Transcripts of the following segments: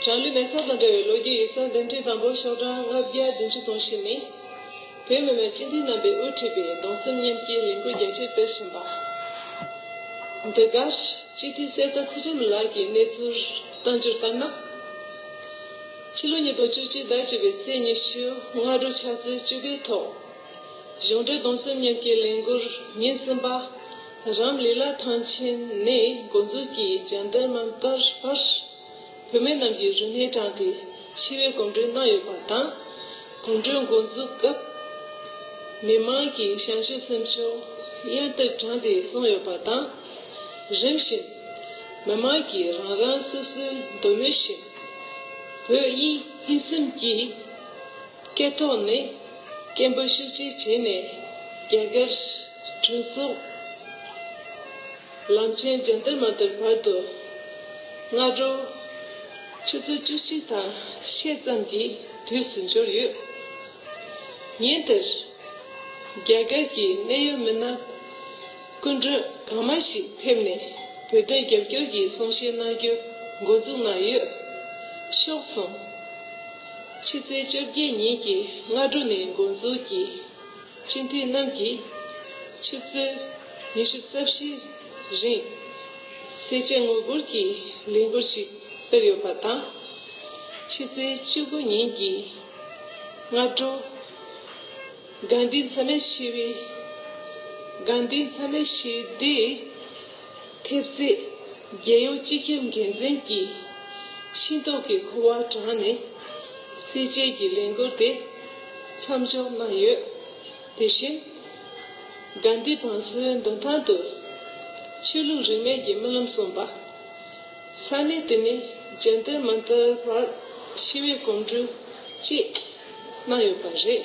གྲངས་འདི་མེད་ས་དང་འདྲ་བའི་ལོ་རྒྱུས་ཡིག་ཚང་འདེམས་སྒྲིག་དང་པོ་ཤོག་གྲངས་ལྔ་བརྒྱ་བདུན་ཅུ་དང་བཞི་ནི། བོད་མི་མང་སྤྱི་འཐུས་རྣམ་པས་དབུ་ཁྲིད་པའི་གདུང་སེམས་མཉམ་སྐྱེའི་ལས་འགུལ་རྒྱ་ཆེར་སྤེལ་བཞིན་པ། འདི་གར་སྤྱི་འཐུས་གསེར་རྟ་ཚེ་རིང་ལགས་ཀྱིས་གནས་ཚུལ་བལྟ་འགྱུར་ལྟར་ན། ཕྱི་ལོ་ཉིས་སྟོང་བཅུ་གཅིག་ཟླ་བཅུ་པའི་ཚེས་ཉི་ཤུ་སྔ་དྲོ་ཕྱག་ཚེས་བཅུ་པའི་ཐོག་གཞུང་འབྲེལ་གདུང་སེམས་མཉམ་སྐྱེའི་ལས་འགུལ་ཉིན་གསུམ་པ། རམ་ལི་ལཱ་ཐང་ཆེན་ནས་འགོ་འཛུགས་ཀྱིས་བཅར་འདྲི་གནང་བསྟར་བར། བུད་མེད་རྣམས་ཀྱིས་རུ་སྣེ་དྲངས་ཏེ་ཤི་བའི་གོམ་བགྲོད་གནང་ཡོད་པ་དང། གོམ་བགྲོད་འགོ་འཛུགས་སྐབས། མི་མང་གི་བྱམས་ཞུ་སེམས་ཕྱོགས་གཡར་དུ་དྲངས་ཏེ་སོང་ཡོད་པ་དང། རིམ་བཞིན། མི་མང་གིས་རང་རང་སོ་སོའི་འདོད་མོས་བཞིན། བོད་དབྱིན་ཧིན་སེམས་ཀྱི་སྐད་ཐོག་ནས། སྐད་འབོད་ཤུགས་ཆེ་བྱས་ནས་རྒྱ་གར་གྲོས་ཚོགས་ལམ་ཆེན་རྒྱ་འདི་མ་དར་བར་དུ་སྔ་དྲོ་ཆུ་ཚོད་བཅུ་གཅིག་དང་ཤས་ཙམ་གྱི་དུས་སུ་འབྱོར་ཡོད། ཉིན་དེར་རྒྱ་གར་གྱི་གནད་ཡོད་མི་སྣ་སྐུ་མགྲོན་གང་མང་ཞིག་ཕེབས་ནས་བོད་དོན་རྒྱབ་སྐྱོར་གྱི་གསུང་བཤད་གནང་རྒྱུ་འགོ་འཛུགས་གནང་ཡོད། ཤོག་ཚོམ། ཕྱི་ཚེས་བཅོ་བརྒྱད་ཉིན་གྱི་སྔ་དྲོ་ནས་འགོ་འཛུགས་ཀྱིས་སྤྱི་འཐུས་རྣམས་ཀྱིས་ཆུ་ཚོད་ཉི་ཤུ་རྩ་བཞི་རིང་གསལ་བྱེད་དངུལ་སྒུར་གྱི་ལས་འགུལ་ཞིག་སྤེལ་ཡོད་པ་དང། ཕྱི་ཚེས་བཅུ་དགུ་ཉིན་གྱི་སྔ་དྲོ་གངས་ཏི་མཚམས་མེད་ཞི་བའི་གངས་ཏི་མཚམས་མེད་ཞི་བདེའི། ཕེབས་རྗེས་རྒྱལ་ཡོངས་སྤྱི་ཁྱབ་འགན་འཛིན་གྱིས་ཤིང་ཏོག་གི་ཁུ་བ་དྲངས་ནས་གསལ་བྱེད་ཀྱི་ལས་འགུལ་དེ་མཚམས་འཇོག་གནང་ཡོད། དེ་བཞིན་དགའ་ལྡན་བང་སོའི་མདུན་ཐང་དུ་ཆོས་ལུགས་རིས་མེད་ཀྱི་རྨི་ལམ་གསུངས་པ། ས་གནས་དེ་ནས་རྒྱལ་དར་མ་འདར་བར་ཞི་བའི་གོམ་བགྲོད་བཅས་གནང་ཡོད་པ་རེད།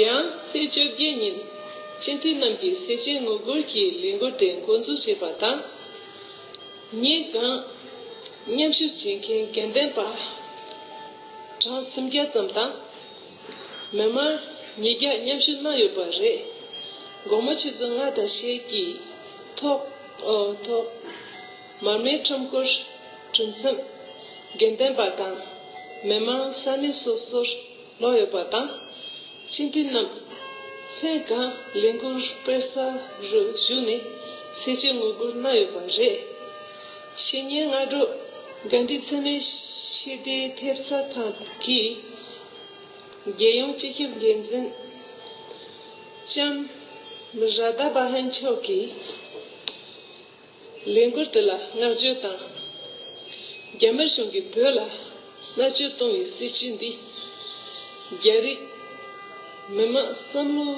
ཡང་ཚེས་བཅོ་བརྒྱད་ཉིན་སྤྱི་འཐུས་རྣམས་ཀྱིས་སེ་ཆེན་ངོ་རྒོལ་གྱི་ལས་འགུལ་དེ་མགོ་འཛུགས་བྱས་པ་དང། ཉེ་གནས་མཉམ་ཞུགས་བྱེད་མཁན་དགེ་ལྡན་པ་གྲངས་སུམ་བརྒྱ་ཙམ་དང། མི་མང་ཉིས་བརྒྱ་མཉམ་ཞུགས་གནང་ཡོད་པ་རེད། དགོང་མོ་ཆུ་ཚོད་ལྔ་དང་ཞེ་གཅིག་ཐོག། མར་མེའི་ཁྲོམ་སྐོར་གྲུ་མཚམས་དགེ་ལྡན་པ་དང་མི་མང་ས་གནས་སོ་སོར་ལོག་ཡོད་པ་དང། སྤྱི་འཐུས་རྣམས་མཚན་གང་ལས་འགུལ་སྤེལ་ས་རུ་བཞུགས་ནས་སེ་བྱས་ངོ་རྒོལ་གནང་ཡོད་པ་རེད། ཕྱི་ཉིན་སྔ་དྲོ་དགའ་འདུས་འཚེ་མེད་ཞི་བདེའི་ཐེབས་རྩ་ཁང་གིས་རྒྱལ་ཡོངས་སྤྱི་ཁྱབ་འགན་འཛིན་ལྕམ་རཱ་ད་པ་ཧན་མཆོག་གིས། ལས་འགུལ་འདི་ལ་བསྔགས་བརྗོད་དང། རྒྱ་དམར་གཞུང་གིས་བོད་ལ་མནར་གཅོད་གཏོང་བའི་སྲིད་བྱུས་འདིས། རྒྱ་རིགས་མི་དམངས་བསམ་བློ་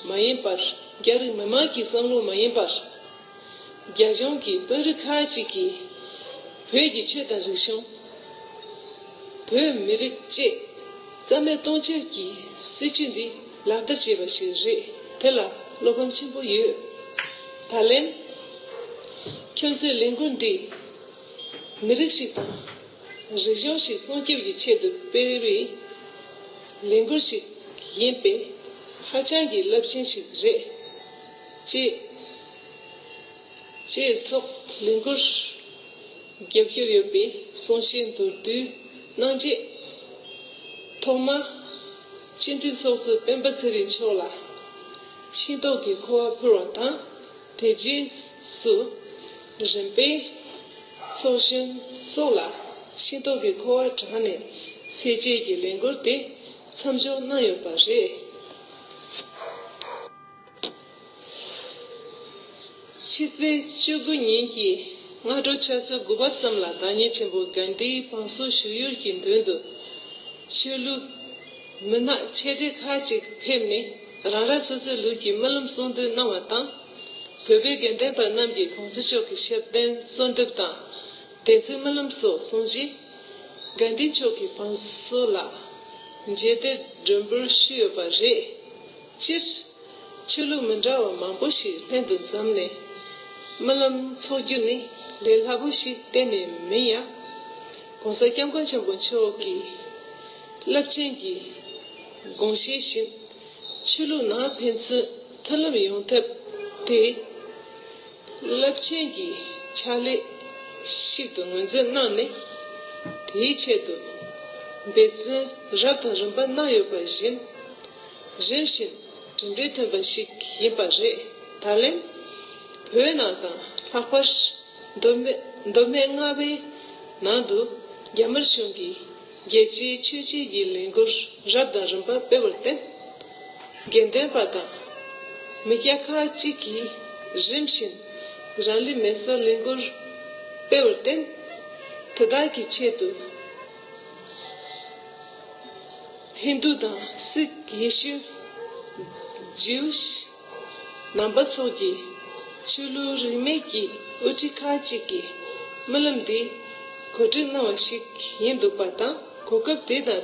མ་ཡིན་པར་རྒྱ་རིགས་མི་དམངས་ཀྱི་བསམ་བློ་མ་ཡིན་པར། རྒྱ་གཞུང་གི་དཔོན་རིགས་ཁག་ཅིག་གིས་བོད་ཀྱི་ཆོས་དང་རིག་གཞུང། བོད་མི་རིགས་བཅས། རྩ་མེད་གཏོང་བྱེད་ཀྱི་སྲིད་བྱུས་འདི་ལག་བསྟར་བྱས་པ་ཞིག་རེད་དེ་ལ་བློ་ཕམ་ཆེན་པོ་ཡོད། ད་ལན། ཁྱོད་ཚོས་ལས་འགུལ་འདི་མི་རིགས་ཤིག་དང་རིག་གཞུང་ཞིག་སྲུང་སྐྱོབ་ཀྱི་ཆེད་དུ་སྤེལ་བའི་ལས་འགུལ་ཞིག་ཡིན་པས་ཧ་ཅང་གི་རླབས་ཆེན་ཞིག་རེད། ཅེས་སོགས་ལས་འགུལ་རྒྱབ་སྐྱོར་ཡོད་པའི་གསུང་བཤད་མདོར་བསྡུས། གནང་རྗེས། ཐོག་མར། སྤྱི་འཐུས་ཚོགས་གཙོ་སྤེན་པ་ཚེ་རིང་མཆོག་ལ། ཤིང་ཏོག་གི་ཁུ་བ་ཕུལ་བ་དང་དེ་རྗེས་སུ། རིམ་པས། ཚོགས་གཞོན་སོགས་ལ་ཤིང་ཏོག་གི་ཁུ་བ་བགྲངས་ནས་ཟས་བཅད་ཀྱི་ལས་འགུལ་དེ་མཚམས་འཇོག་གནང་ཡོད་པ་རེད། ཕྱི་ཚེས་བཅུ་དགུ་ཉིན་གྱི་སྔ་དྲོ་ཆུ་ཚོད་དགུ་པ་ཙམ་ལ་བདག་ཉིད་ཆེན་པོ་གཱན་དྷིའི་བང་སོ་བཞུགས་ཡུལ་གྱི་མདུན་དུ། ཆོས་ལུགས་མི་སྣ་ཆེ་གྲས་ཁག་ཅིག་ཕེབས་ནས་རང་རང་སོ་སོའི་ལུགས་ཀྱི་སྨོན་ལམ་གསུང་འདོན་གནང་བ་དང། བོད་པའི་དགེ་ལྡན་པ་རྣམས་ཀྱིས་བང་སོ་ཕྱོགས་ཀྱི་ཞབས་བརྟན་གསོལ་འདེབས་དང་དད་ཚིག་སྨོན་ལམ་སོགས་གསུང་བཞིན། གཱན་དྷི་མཆོག་གི་བང་སོ་ལ་མཇལ་དད་མགྲོན་འབོར་ཞུས་ཡོད་པ་རེད། སྤྱིར། ཆོས་ལུགས་མི་འདྲ་བ་མང་པོ་ཞིག་ལྷན་དུ་འཛོམས་ནས་རྨི་ལམ་འཚོགས་རྒྱུ་ནི་ལས་སླ་པོ་ཞིག་གཏན་ནས་མིན་ཡང། ྋགོང་ས ྋསྐྱབས་མགོན་ཆེན་པོ་མཆོག་གི་རླབས་ཆེན་གྱི་དགོངས་བཞེད་བཞིན་ཆོས་ལུགས་ནང་ཕན་ཚུན་མཐུན་ལམ་ཡོང་ཐབས་དེ་རླབས་ཆེན་གྱི་ཕྱག་ལས་ཤིག་ཏུ་ངོས་འཛིན་གནང་ནས་དེའི་ཆེད་དུ་འབད་བརྩོན་རབ་དང་རིམ་པ་གནང་ཡོད་པ་བཞིན། རིམ་བཞིན་གྲུབ་འབྲས་ཐོན་པ་ཞིག་ཡིན་པ་རེད། ད་ལན་བོད་ནང་དང་ལྷག་པར་མདོ་སྨད་རྔ་བའི་ནང་དུ་རྒྱ་དམར་གཞུང་གིས་རྒྱལ་སྤྱིའི་ཆོས་བརྒྱུད་ཀྱི་ལས་འགུལ་རབ་དང་རིམ་པ་སྤེལ་བར་བརྟེན། དགེ་འདུན་པ་དང་མི་སྐྱ་ཁག་ཅིག་གིས་རིམ་བཞིན་རང་ལུས་མེ་གསོད་ལས་འགུལ་སྤེལ་བར་བརྟེན། དེ་དག་གི་ཆེད་དུ། ཧིན་རྡུ་དང་སིག་ཡེ་ཤུ། Jewish། ནང་པ་སོགས་ཀྱི་ཆོས་ལུགས་རིས་མེད་ཀྱི་དབུ་ཁྲིད་ཁག་ཅིག་གིས་རྨི་ལམ་འདི་གོ་སྒྲིག་གནང་བ་ཞིག་ཡིན་འདུག་པ་དང་གོ་སྐབས་དེ་དང་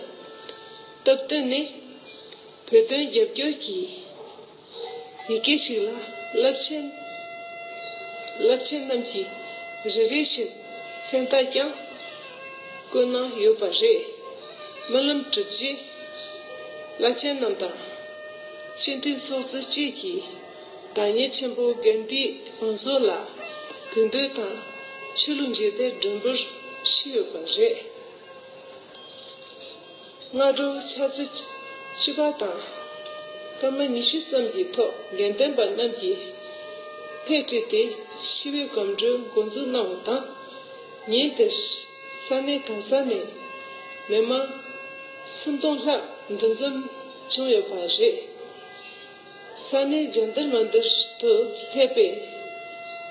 སྟབས་བསྟུན་ནས་བོད་དོན་རྒྱབ་སྐྱོར་གྱིས། ཡི་གེ་གཅིག་ལ་རླབས་ཆེན། རླབས་ཆེན་རྣམས་ཀྱི་རེ་རེ་བཞིན་མཚན་བཏགས་ཀྱང། བཀོད་སྣང་ཡོད་པ་རེད། རྨི་ལམ་གྲུབ་རྗེས་བླ་ཆེན་རྣམས་དང། སྤྱི་མཐུན་ཚོགས་གཙོ་བཅས་ཀྱིས་བདག་ཉིད་ཆེན་པོ་དགོན་འདིའི་བང་མཛོད་ལ་གུས་འདུད་དང་ཆོས་ལུགས་མཇལ་དད་མགྲོན་འབོར་ཞུས་ཡོད་པ་རེད། སྔ་དྲོ་ཆ་ཚེས་བཅུ་པ་དང་སྐར་མ་ཉི་ཤུ་ཙམ་གྱི་ཐོག་དགེ་ལྡན་པ་རྣམས་ཀྱིས་ཐད་བཀྲིས་ཏེ་ཤི་བོའི་སྒམ་སྒྲོལ་འགོ་འཛུགས་གནང་བ་དང། ཉིན་དེར་ས་གནས་གང་ས་ནས་མི་མང་སུམ་སྟོང་ལྷག་འདུ་འཛོམས་བྱུང་ཡོད་པ་རེད། ས་གནས་རྒྱ་འདིར་མ་འདིར་དུ་སླེབས་པའི་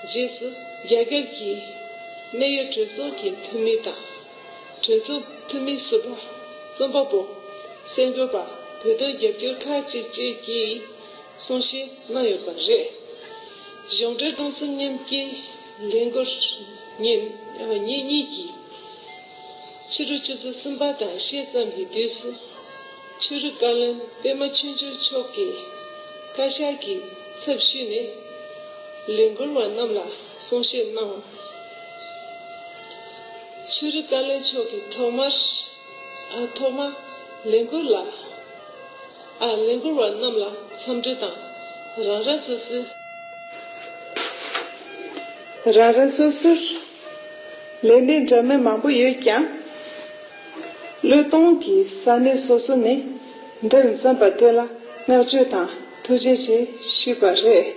རྗེས་སུ་རྒྱ་གར་གྱི་གནད་ཡོད་གྲོས་ཚོགས་ཀྱི་འཐུས་མི་དང་གྲོས་ཚོགས་འཐུས་མི་ཟུར་པ་རྩོམ་པ་པོ་གསར་འགོད་པ་བོད་དོན་རྒྱབ་སྐྱོར་ཁག་ཅིག་བཅས་ཀྱིས་གསུང་བཤད་གནང་ཡོད་པ་རེད། གཞུང་འབྲེལ་སྟོང་གསུམ་མཉམ་སྐྱེའི་འགྲན་སྒོར་ཉིན་གཉིས་ཀྱི་ཕྱི་དྲོ་ཆུ་ཚོད་གསུམ་པ་དང་ཕྱེད་ཙམ་གྱི་དུས་སུ། ཆོས་རིག་བཀའ་བློན་པད་མ་ཆོས་འབྱོར་མཆོག་གིས་བཀའ་ཤག་གི་ཚབ་ཞུས་ནས་ལས་འགུལ་བ་རྣམས་ལ་གསུང་བཤད་གནང། ཆོས་རིག་བཀའ་བློན་མཆོག་གིས་ཐོག་མར། ཐོག་མ། ལས་འགུལ་ལ། ལས་འགུལ་བ་རྣམས་ལ་འཚམས་འདྲི་དང། རང་རང་སོ་སོའི། རང་རང་སོ་སོར། ལས་གནས་འདྲ་མིན་མང་པོ་ཡོད་ཀྱང། བློས་གཏོང་གི་ས་གནས་སོ་སོ་ནས་འདིར་འཛོམས་པ་དེ་ལ་བསྔགས་བརྗོད་དང་ཐུགས་རྗེ་ཆེ་ཞུས་པ་རེད།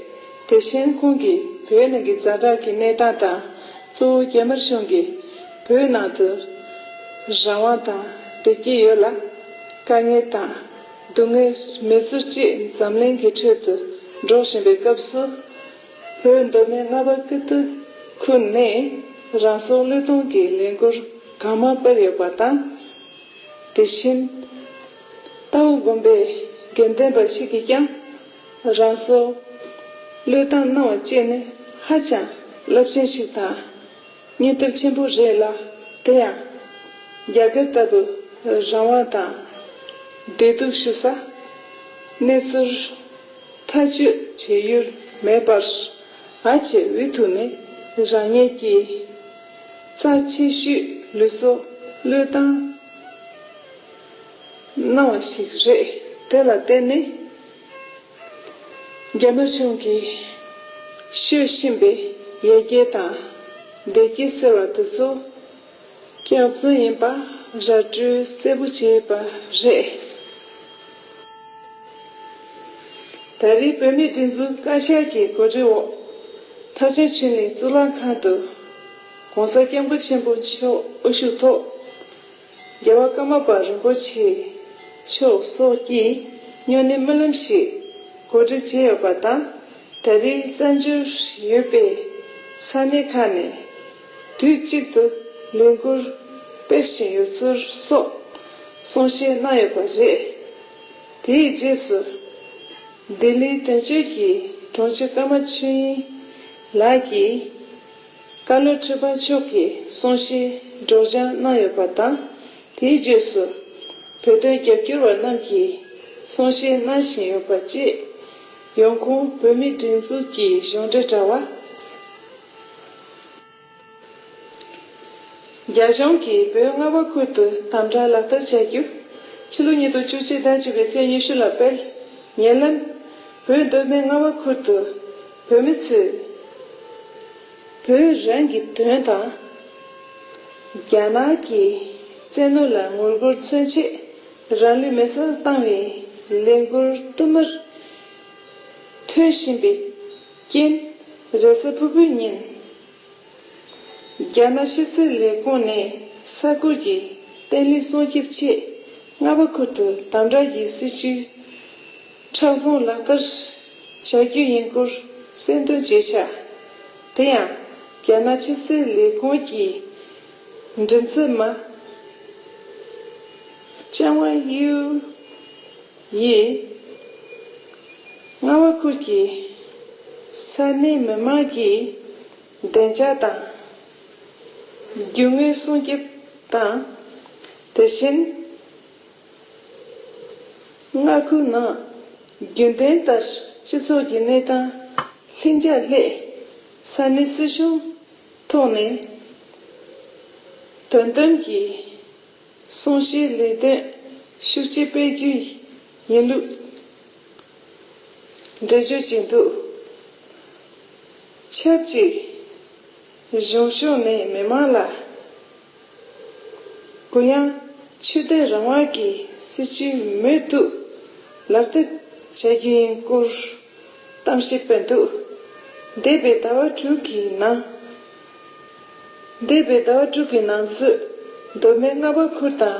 དེ་བཞིན་ཁོང་གིས་བོད་ནང་གི་གཟའ་གྲགས་ཀྱི་གནས་སྟངས་དང་གཙོ་བོ་རྒྱ་དམར་གཞུང་གིས་བོད་ནང་དུ་རང་དབང་དང་བདེ་སྐྱིད་ཡོད་ལ། དཀའ་ངལ་དང་སྡུག་བསྔལ་མེད་ཚུལ་བཅས་འཛམ་གླིང་གི་ཁྲོད་དུ་སྒྲོག་བཞིན་པའི་སྐབས་སུ། བོད་མདོ་སྨད་རྔ་པ་ཀི་ཏི་ཁུལ་ནས་རང་སྲོག་བློས་གཏོང་གིས་ལས་འགུལ་གང་མང་སྤེལ་ཡོད་པ་དང། དེ་བཞིན་རྟའུ་དགོན་པའི་དགེ་ལྡན་པ་ཞིག་གིས་ཀྱང་རང་སྲོག་བློས་བཏང་གནང་བ་བཅས་ནི་ཧ་ཅང་རླབས་ཆེན་ཞིག་དང་སྙིང་སྟོབས་ཆེན་པོ་རེད་ལ་དེ་ཡང་རྒྱ་སྒེར་ལྟ་བུ་རང་དབང་དང་བདེ་སྡུག་ཞུ་ས་གནས་ཚུལ། མཐའ་དཔྱོད་བྱེད་ཡུལ་མེད་པར། ཨ་ཆེ་འུ་ཐུག་ནི་རང་ཉིད་ཀྱི། རྩ་ཆེ་ཤོས་ལུས་སོ་བློས་བཏང། སྣང་བ་ཞིག་རེད་དེ་ལ་བརྟེན་ནས། རྒྱ་ནག་གཞུང་གིས་ཤོད་བཞིན་པའི་ཡ་གྱལ་དང་བདེ་སྐྱིད་ཟེར་བ་དེ་ཚོ། སྐྱག་རྫུན་ཡིན་པ་ར་སྤྲོད་གསལ་པོ་བྱས་པ་རེད། ད་རེས་བོད་མིའི་སྒྲིག་འཛུགས་བཀའ་ཤག་གི་གོ་སྒྲིག་འོག་ཐ་ཆད་ཆུ་གླིང་གཙུག་ལག་ཁང་དུ ྋགོང་ས ྋསྐྱབས་མགོན་ཆེན་པོ་མཆོག་དབུ་བཞུགས་ཐོག་རྒྱལ་བ་ཀརྨ་པ་རིན་པོ་ཆེ་མཆོག་སོགས་ཀྱིས་སྨྱོ་ནད་སྨོན་ལམ་ཞིག་གོ་སྒྲིག་བྱས་ཡོད་པ་དང་ད་རེས་བཙན་བྱོལ་ཡོད་པའི་ས་གནས་ཁག་ནས་དུས་གཅིག་ཏུ་ལས་འགུལ་སྤེལ་བཞིན་ཡོད་ཚུལ་སོགས་གསུང་བཤད་གནང་ཡོད་པ་རེད། དེའི་རྗེས་སུ། ལྡི་ལིའི་དོན་གཅོད་ཀྱི་དྲུང་ཆེ་ཀརྨ་ཆོས་དབྱིངས་ལགས་ཀྱིས། བཀའ་བློན་ཁྲི་པ་མཆོག་གི་གསུང་བཤད་སྒྲོག་སྦྱང་གནང་ཡོད་པ་དང། དེའི་རྗེས་སུ། བོད་དོན་རྒྱབ་སྐྱོར་བ་རྣམས་ཀྱིས་གསུང་བཤད་གནང་བཞིན་ཡོད་པ་བཅས། ཡོང་ཁུངས་བོད་མིའི་སྒྲིག་འཛུགས་ཀྱི་གཞུང་འབྲེལ་དྲ་བ། རྒྱ་གཞུང་གིས་བོད་རྔ་བ་ཁུལ་དུ་དམ་བསྒྲགས་ལག་བསྟར་བྱ་རྒྱུ། ཕྱི་ལོ་ཉིས་སྟོང་བཅུ་གཅིག་ཟླ་བཅུ་པའི་ཚེས་ཉི་ཤུ་ལ་སྤེལ། ཉེ་ལམ། བོད་མདོ་སྨད་རྔ་བ་ཁུལ་དུ་བོད་མི་ཚོས། བོད་རང་གི་དོན་དང། རྒྱ་ནག་གི་བཙན་གནོན་ལ་ངོ་རྒོལ་མཚོན་ཆེད་རང་ལུས་མེ་སྲེག་བཏང་བའི་ལས་འགུལ་བསྟུད་མར་ཐོན་བཞིན་པའི། རྐྱེན། རེས་གཟའ་ཕུར་བུའི་ཉིན། རྒྱ་ནག་ཕྱི་སྲིད་ལས་ཁུངས་ནས་ས་ཁུལ་གྱི་བརྟན་ལྷིང་སྲུང་སྐྱོབ་ཆེད་རྔ་པ་ཁུལ་དུ་དམ་བསྒྲགས་ཀྱི་སྲིད་ཇུས་མཁྲེགས་བཟུང་ལག་བསྟར་བྱ་རྒྱུ་ཡིན་སྐོར་གསལ་འདོན་བྱས་ཤ། དེ་ཡང་རྒྱ་ནག་ཕྱི་སྲིད་ལས་ཁུངས་ཀྱི་མགྲིན་ཚབ་མ་ཅན་ཝང་དབྱིའུ། ཡིས། རྔ་བ་ཁུལ་གྱི་ས་གནས་མི་དམངས་ཀྱིས་བདེ་འཇགས་དང། རྒྱུ་དངོས་སྲུང་སྐྱོབ་དང། དེ་བཞིན། རྔ་ཁུལ་ནང་རྒྱུན་ལྡན་ལྟར་སྤྱི་ཚོགས་ཀྱི་གནས་སྟངས་ལྷིང་འཇགས་སླད། ས་གནས་སྲིད་གཞུང་ཐོག་ནས་དོ་དམ་གྱིས། གསུང་བཤད་ལས་དོན་ཤུགས་ཆེ་སྤེལ་རྒྱུའི་ཡིན་ལུགས་འགྲེལ་བརྗོད་བྱས་འདུག་ཆབས་ཅིག་གཞུང་ཕྱོགས་ནས་མི་མང་ལ་གུ་ཡངས་ཆོས་དད་རང་དབང་གི་སྲིད་བྱུས་མུ་མཐུད་ལག་བསྟར་བྱ་རྒྱུ་ཡིན་སྐོར་གཏམ་བཤད་སྤེལ་འདུག་འདས་པའི་ཟླ་བ་དྲུག་གི་ནང། འདས་པའི་ཟླ་བ་དྲུག་གི་ནང་ཚུད། གདོད་མའི་རྔ་པ་ཁུར་དང་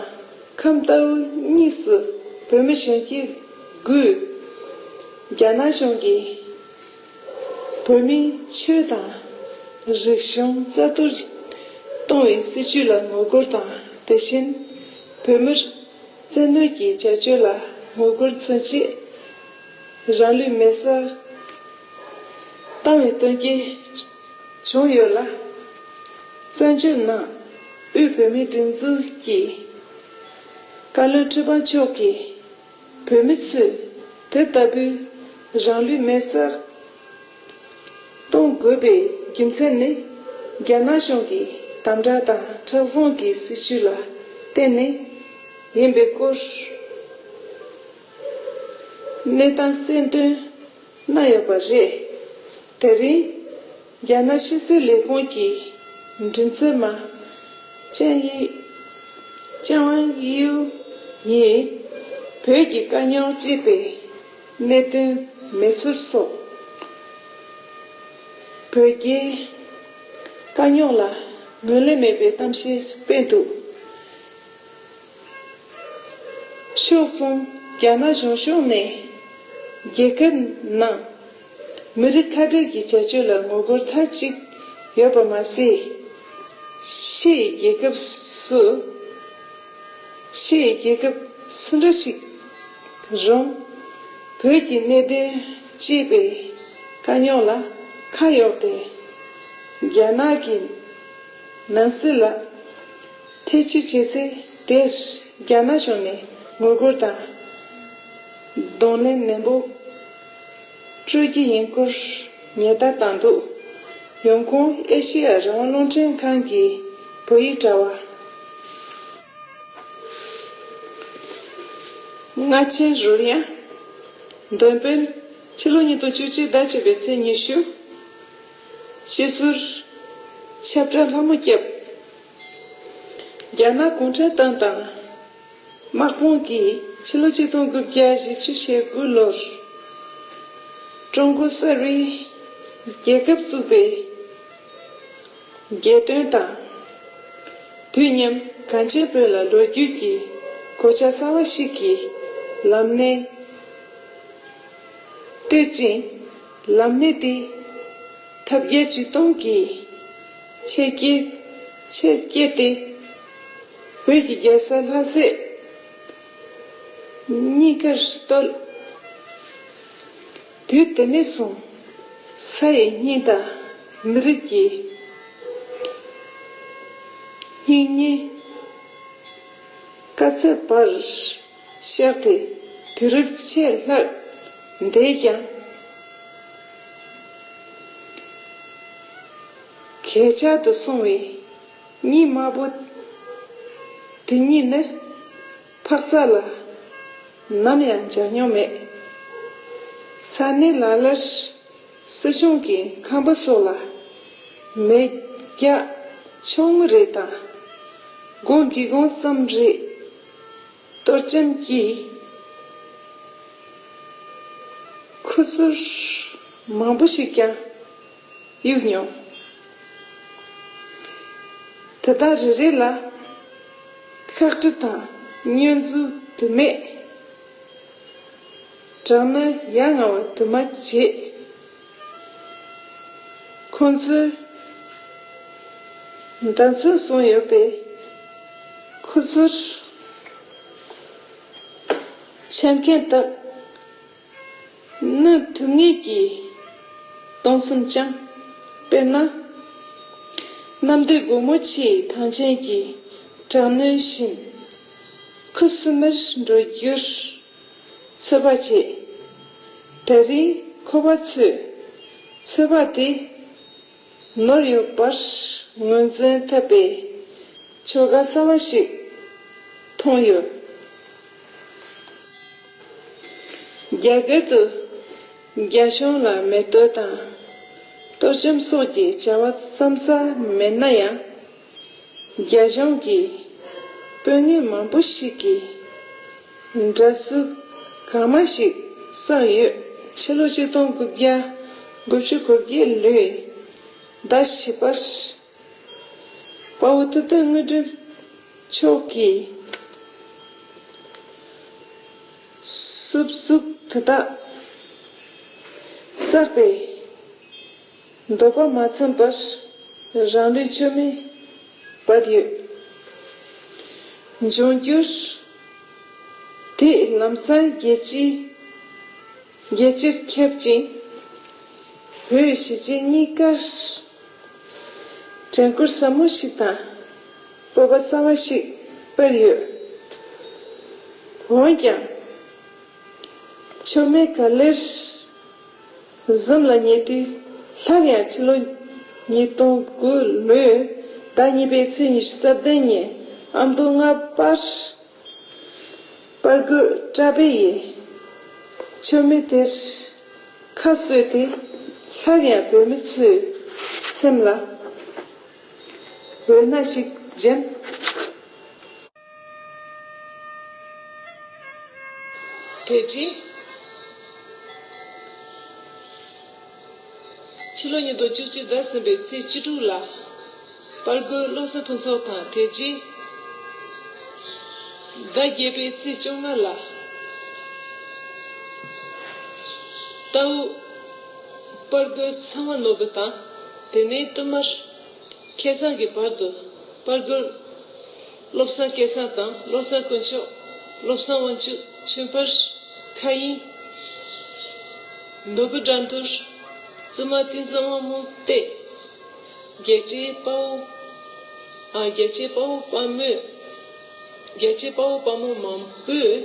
ཁམས་རྟའུ་གཉིས་སུ་བོད་མི་གཞོན་སྐྱེས་དགུས། རྒྱ་ནག་གཞུང་གིས་བོད་མིའི་ཆོས་དང་རིག་གཞུང་རྩ་གཏོར་གཏོང་བའི་སྲིད་བྱུས་ལ་ངོ་རྒོལ་དང་དེ་བཞིན་བོད་མིར་བཙན་གནོད་ཀྱི་བྱ་སྤྱོད་ལ་ངོ་རྒོལ་མཚོན་ཆེད། རང་ལུས་མེར་སྲེག་བཏང་བའི་དོན་རྐྱེན་བྱུང་ཡོད་ལ། བཙན་བྱོལ་ནང་དབུས་བོད་མིའི་སྒྲིག་འཛུགས་ཀྱི་བཀའ་བློན་ཁྲི་པ་མཆོག་གིས་བོད་མི་ཚོས་དེ་ལྟ་བུའི་རང་ལུས་མེར་སྲེག་གཏོང་དགོས་པའི་རྒྱུ་མཚན་ནི་རྒྱ་ནག་གཞུང་གི་དམ་བསྒྲགས་དང་ཁྲག་བཟུང་གི་སྲིད་བྱུས་ལ་བརྟེན་ནས་ཡིན་པའི་སྐོར། གནས་སྟངས་གསལ་འདོན་གནང་ཡོད་པ་རེད། དེ་རིང་རྒྱ་ནག་ཕྱི་སྲིད་ལས་ཁུངས་ཀྱི་མགྲིན་ཚབ་མ་ཅན་ཡི་ཅང་དབྱིའུ་ཡིས་བོད་ཀྱི་དཀའ་རྙོག་གཅེས་པའི་གནད་དོན་མེད་ཚུལ་སོགས་བོད་རྒྱའི་དཀའ་རྙོག་ལ་ངོས་ལེན་མེད་པའི་གཏམ་བཤད་སྤེལ་འདུག་ཕྱོགས་མཚུངས་རྒྱ་ནག་གཞུང་ཕྱོགས་ནས་རྒྱལ་ཁབ་ནང་མི་རིགས་ཁ་བྲལ་གྱི་བྱ་སྤྱོད་ལ་ངོ་རྒོལ་མཐའ་གཅིག་ཡོད་པ་མ་ཟད། ཕྱི་ཡི་རྒྱལ་ཁབ་སུ་ཕྱི་ཡི་རྒྱལ་ཁབ་སུ་འདྲ་ཞིག་རུང་བོད་ཀྱི་གནད་དོན་ཅེས་པའི་དཀའ་རྙོག་ལ་ཁ་གཡོགས་ཏེ་རྒྱ་ནག་གི་ནང་སྲིད་ལ་ཐེ་ཇུས་བྱས་ཚེ་དེས་རྒྱ་ནག་ཕྱོགས་ནས་ངོ་རྒོལ་དང་གདོང་ལེན་ནན་པོ་སྤྲོད་ཀྱི་ཡིན་སྐོར་ཉེས་བརྡ་བཏང་འདུག་ཡོང་ཁུང་ཨེ་ཤེ་ཡ་རང་སློང་ཁྲིམས་ཁང་གི་བོད་ཡིག་དྲ་བ། རྔ་ཆེན་རོལ་དབྱངས། འདོན་སྤེལ། ཕྱི་ལོ་ཉིས་སྟོང་བཅུ་གཅིག་ཟླ་བཅུ་པའི་ཚེས་ཉི་ཤུ། སྤྱི་ཟུར། ཆབ་བྲག་ལྷ་མོ་སྐྱབས། རྒྱ་ནག་གུང་ཁྲན་ཏང་དང་དམག་དཔུང་གིས་ཕྱི་ལོ་ཆིག་སྟོང་དགུ་བརྒྱ་བཞི་བཅུ་ཞེ་དགུ་ལོར་ཀྲུང་གོ་གསར་བའི་རྒྱལ་ཁབ་བཙུགས་པའི་རྒྱལ་དོན་དང་དུས་མཉམ་གངས་ཅན་བོད་ལ་ལོ་རྒྱུས་ཀྱི་གོ་ཆ་གསར་བ་ཞིག་གི་ལམ་སྣེ་བཏོད་ཅིང་ལམ་སྣེ་དེ་ཐབས་བརྒྱ་ཇུས་སྟོང་གིས་ཆེར་བསྐྱེད། ཆེར་བསྐྱེད་དེ། བོད་ཀྱི་རྒྱལ་ས་ལྷ་སའི། གཉིས་ཀར་བརྟོལ། དུས་དེ་ནས་བཟུང། ས་ཡི་སྙིང་དང་མི་རིགས་ཀྱི། སྙིང་ཉེ། དཀའ་ཚེགས་བར། གཤེགས་ཏེ་དུས་རབས་ཕྱེད་ལྷག་འདས་ཀྱང། ཁྱེད་ཅག་ཏུ་གསུངས་བའི་གཉིས་དམར་པོ་དེ་གཉིས་ནི་འཕགས་རྩ་ལ་ནམ་ཡང་འཇགས་མྱོང་མེད། ས་གནས་ལ་ལར་སྲིད་གཞུང་གི་ཁང་པ་སོགས་ལ་མེ་རྒྱག་ཆུང་ངུ་རེ་དང། སྒོ་འགྱིག་སྒོང་ཙམ་རེ་གཏོར་སྐྱེམས་ཀྱིས་ཁུ་ཚུར་མང་པོ་ཞིག་ཀྱང། གཡུག་མྱོང། དེ་དག་རེ་རེ་ལ་ཤག་དྲི་དང་བསྙོན་འཛུགས་དུ་མས་སྦྲང་ནི་ཡ་ང་བ་དུ་མ་བྱས། ཁོང་ཚོའི་འདྲ་མཚུངས་བཟུང་ཡོད་པས་ཁོ་ཚོར་མཆན་མཁན་དག་ནི་དུས་ངེས་ཀྱིས་སྟོང་གསུམ་བསྐྱང། དཔེར་ན། གནམ་སྡེ་སྒོ་མོ་ཆེའི་ཐང་ཆེན་གྱི་དྲག་གནོན་བཞིན། ཁུ་སིམ་མེར་འགྲོ་རྒྱུར་ཚོད་དཔག་བྱེད། དེ་རིང་ཁོ་པ་ཚོས་ཚོད་དཔག་དེ་ནོར་ཡོད་པར་ངོས་འཛིན་ཐེབས་པའི་ཆོ་ག་གསར་བ་ཞིག་མཐོང་ཡོད། རྒྱ་གར་དུ་རྒྱ་གཞུང་ལ་མེ་གཏོད་དང་གཏོར་བཅོམ་སོགས་ཀྱི་བྱ་བ་བརྩམ་ས་མེད་ན་ཡང། རྒྱ་གཞུང་གིས་དཔོན་ངན་མང་པོ་ཞིག་གི་འདྲ་བསུ་གང་མང་ཞིག་བསགས་ཡོད་ཕྱི་ལོ་གཅིག་སྟོང་དགུ་བརྒྱ་དགུ་བཅུ་གོ་བརྒྱད་ལོའི་ཟླ་བཞི་པར་དཔའ་བོ་ཐུབ་བསྟན་དངོས་སྒྲུབ་མཆོག་གིས། སྲུབ་གཟུགས་དེ་དག་བསགས་པས། འདོད་པ་མ་ཚིམས་པར་རང་ལུས་མཆོད་མེ་སྦར་ཡོད། འབྱུང་འགྱུར་དེས་ལམ་སང་རྒྱལ་སྤྱིའི་རྒྱལ་སྤྱིར་ཁྱབ་ཅིང། བོད་གཞིས་བྱེས་གཉིས་ཀར་དྲན་སྐུལ་ཟབ་མོ་ཞིག་དང། སྤོབས་པ་གསར་བ་ཞིག་སྤེལ་ཡོད། འོན་ཀྱང། མཆོད་མེ་ག་ལེར་གཟིམ་ལ་ཉེ་དུས་སླར་ཡང་ཕྱི་ལོ་ཉིས་སྟོང་དགུ་ལོའི་ཟླ་གཉིས་པའི་ཚེས་ཉི་ཤུ་རྩ་བདུན་ཉིན་ཨ་མདོ་རྔ་པར་པར་རྒོད་བཀྲ་འཕེལ་ཡིས་མཆོད་མེ་དེར་ཁ་གསོས་ཏེ་སླར་ཡང་བོད་མི་ཚོའི་སེམས་ལ་འོད་སྣང་ཞིག་སྦྱིན། དེ་རྗེས། ཕྱི་ལོ་ཉིས་སྟོང་བཅུ་གཅིག་ཟླ་གསུམ་པའི་ཚེས་བཅུ་དྲུག་ལ། པར་རྒོལ་སློབ་གསོའི་ཕུན་ཚོགས་དང་དེ་རྗེས། ཟླ་བརྒྱད་པའི་ཚེས་བཅོ་ལྔ་ལ། རྟའུ། པར་རྒོད་ཚང་མ་ནོར་བུ་དང། དེ་ནས་བསྟུད་མར། ཁེ་བཟང་གི་བར་དུ་པར་རྒོད། བློ་བཟང་སྐལ་བཟང་དང་བློ་བཟང་དཀོན་མཆོག། བློ་བཟང་དབང་ཕྱུག་ཆོས་འཕེལ། མཁའ་དབྱིངས། ནོར་བུ་དགྲ་འདུལ། བཙུན་མ་ཏིང་འཛིན་དབང་མོ་སྟེ། རྒྱལ་གཅེས་དཔའ་བོ། རྒྱལ་གཅེས་དཔའ་བོ་དཔའ་མོས། རྒྱལ་གཅེས་དཔའ་བོ་དཔའ་མོ་མང་པོས།